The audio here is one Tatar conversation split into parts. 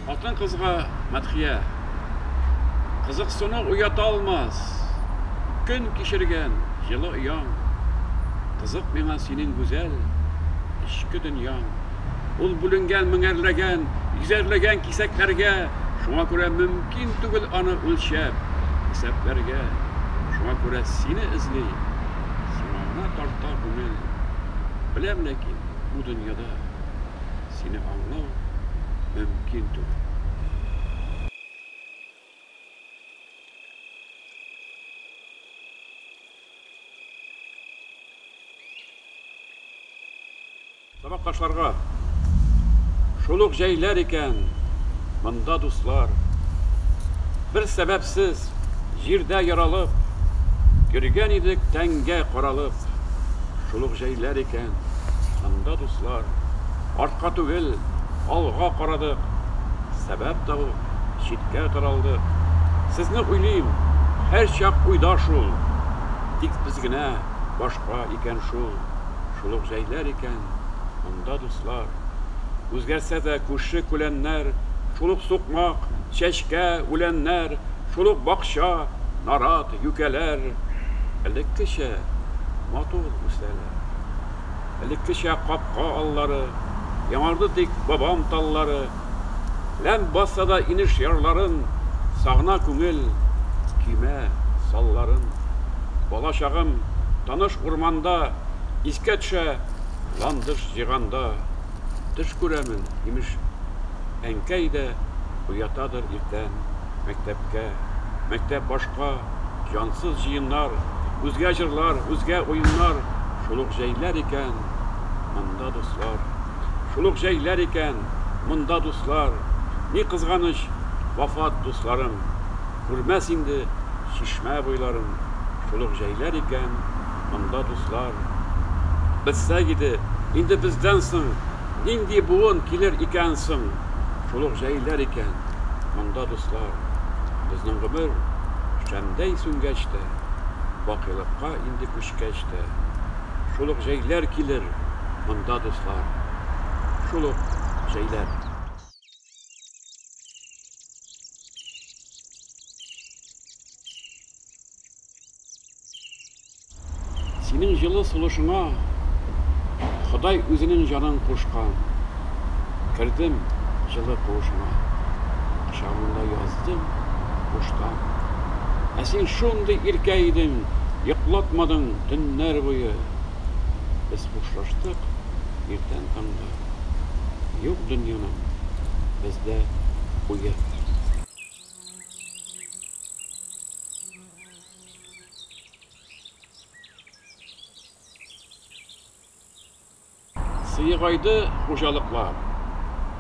Алтын кызга мәдхия Кызыксыну уята алмас Көн кишерген, жылы ояң Кызык миңа синең гүзәл Эчке дөньяң Ул бүленгән меңәрләгән, йөзәрләгән кисәкләргә, шуңа күрә мөмкин түгел аны үлчәп, исәпләргә. Шуңа күрә сине эзли, сиңа гына тарта күңел. Беләм ләкин, бу дөньяда сине аңлау мөмкин түгел. Сабакташларга Шул ук җәйләр икән монда дуслар Бер сәбәпсез җирдә яралып Йөргән идек тәнгә каралып Шул ук җәйләр икән монда дуслар Артка түгел, алга карадык Сәбәп табып, читкә таралдык Сезне уйлыйм, һәрчак уйда шул Тик без генә башка икән шул, шул ук җәйләр икән Монда дуслар. Үзгәрсә дә күрше-күләннәр, Шул ук сукмак, чәчкә, үләннәр, Шул ук бакча, нарат, юкәләр Элеккечә матур үсәләр. Элеккечә капка аллары, Яңарды тик бабам таллары. Ләм басса да инеш ярларын, Сагына күңел көймә салларын. Бала чагым таныш урманда, Искә төшә ландыш җыйганда. Төш күрәмен, имеш, әнкәй дә Уятадыр иртән. мәктәпкә. Мәктәп башка, җансыз җыеннар, Үзгә җырлар, үзгә уеннар, Шул ук җәйләр икән, монда дуслар. Шул ук җәйләр икән, монда дуслар. Ни кызганыч, вафат дусларым, Күрмәс инде чишмә буйларым. Шул ук җәйләр икән, монда дуслар. Белсәк иде, инде бездән соң. Нинди буын килер икән соң? Шул ук җәйләр икән монда, дуслар. Безнең гомер шәмдәй сүнгәч тә, бакыйлыкка инде күчкәч тә. Шул ук җәйләр килер монда, дуслар. Шул ук җәйләр. Синең җылы сулышыңа Ходай үзенең җанын кушкан. Кердем җылы куышыңа, Кочагыңда яздым куштан. Ә син шундый иркә идең, Йоклатмадың төннәр буе. Без хушлаштык иртән таңда, Юк дөньяның бездә уе. Сыегайды хуҗалыклар.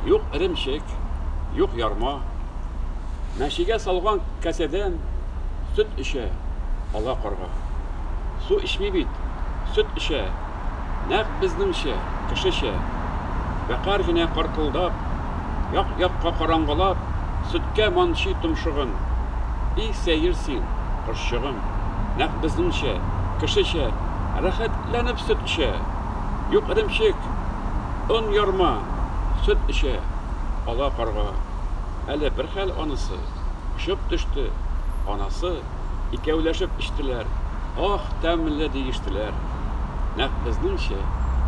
Юк эремчек, юк ярма. Мәшигә салган кәсәдән сөт эчә ала карга. Су эчми бит, сөт эчә. нәкъ безнеңчә, кешечә, вәкарь генә каркылдап, як-якка караңгылап, сөткә манчый томшыгын. И сәер син, кошчыгым, нәкъ безнеңчә, кешечә, рәхәтләнеп сөт эчә! Юк, эремчек, он ярма, сөт эчә! Ала карга. Әле бер хәл анысы, очып төште, анасы. икәүләшеп эчтеләр. Ах, тәмле, диештеләр. Нәкъ безнеңчә,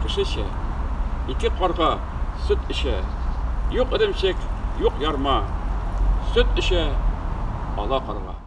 кешечә. Ике карга сөт эчә. Юк эремчек, юк ярма. Сөт эчә ала карга.